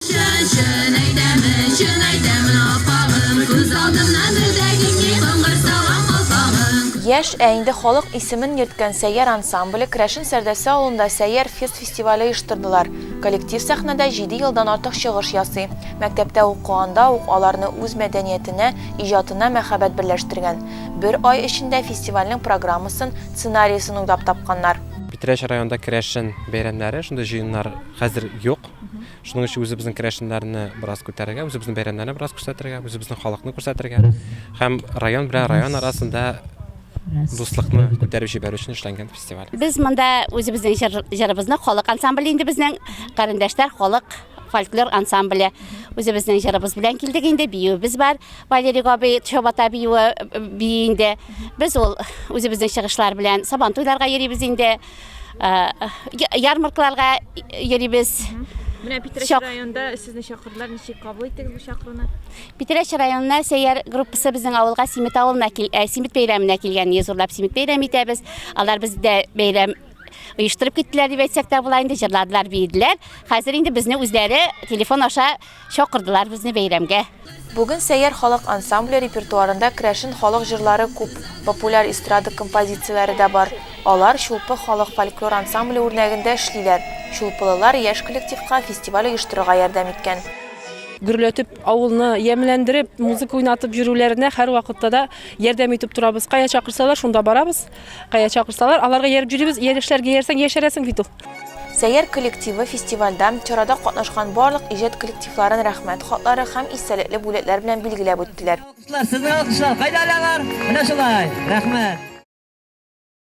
Чын, чын әйтәмен, чын әйтәмен, аппагым, күз алдымнан бер дә китми коңгырт салган калфагың. Яшь, ә инде халык исемен йөрткән Сәйяр ансамбле Крәшен Сәрдәсә авылында Сәйяр фест фестивале оештырдылар. Коллектив сәхнәдә җиде елдан артык чыгыш ясый. Мәктәптә укыганда ук аларны үз мәдәниятенә, иҗатына мәхәббәт берләштергән. Бер ай эчендә фестивальнең программасын, сценариясен уйлап тапканнар. Питрәч районында Крәшен бәйрәмнәре, шундый җыеннар хәзер юк. Шуның өчен үзебезнең керәшеннәрне бераз күтәрергә, үзебезнең бәйрәмнәрне бераз күрсәтергә, үзебезнең халыкны күрсәтергә һәм район белән район арасында дуслыкны күтәреп җибәрү өчен эшләнгән фестиваль. Без монда үзебезнең җыр, җырыбызны халык ансамбле инде безнең карендәшләр халык фольклор ансамбле. Үзебезнең җырыбыз белән килдек инде, биюебез бар. Валерий Габый Чабата биюе бии инде. Без ул үзебезнең чыгышлар белән Сабантуйларга йөрибез инде. Ярмаркаларга йөрибез. Менә Питрәч районында сезне чакырдылар, ничек кабул иттегез бу чакыруны? Питрәч районына сәйяр группасы безнең авылга Симит авылына кил, ә, Симит бәйрәменә килгән, зурлап Симит бәйрәм итәбез. Алар бездә бәйрәм оештырып киттеләр дип әйтсәк тә була инде, җырладылар, биеделәр. Хәзер инде безне үзләре телефон аша Чакырдылар безне бәйрәмгә. Бүген Сәйяр халык ансамбле репертуарында керәшен халык җырлары күп, популяр эстрада композицияләре дә бар. Алар Чулпы халык фольклор ансамбле үрнәгендә эшлиләр. Чулпылылар яшь коллективка фестиваль оештырырга ярдәм иткән. Гөрләтеп, авылны ямьләндереп, музыка уйнатып йөрүләренә һәрвакытта да ярдәм итеп торабыз. Кая чакырсалар, шунда барабыз. Кая чакырсалар, аларга ияреп йөрибез. Иялешләргә иярсәң, яшәрәсең бит ул. Сәйяр коллективы фестивальдә чарада катнашкан барлык иҗат коллективларын рәхмәт хатлары һәм истәлекле бүләкләр белән билгеләп үттеләр. Сезне алкышлау кайда алалар? Менә шулай. Рәхмәт.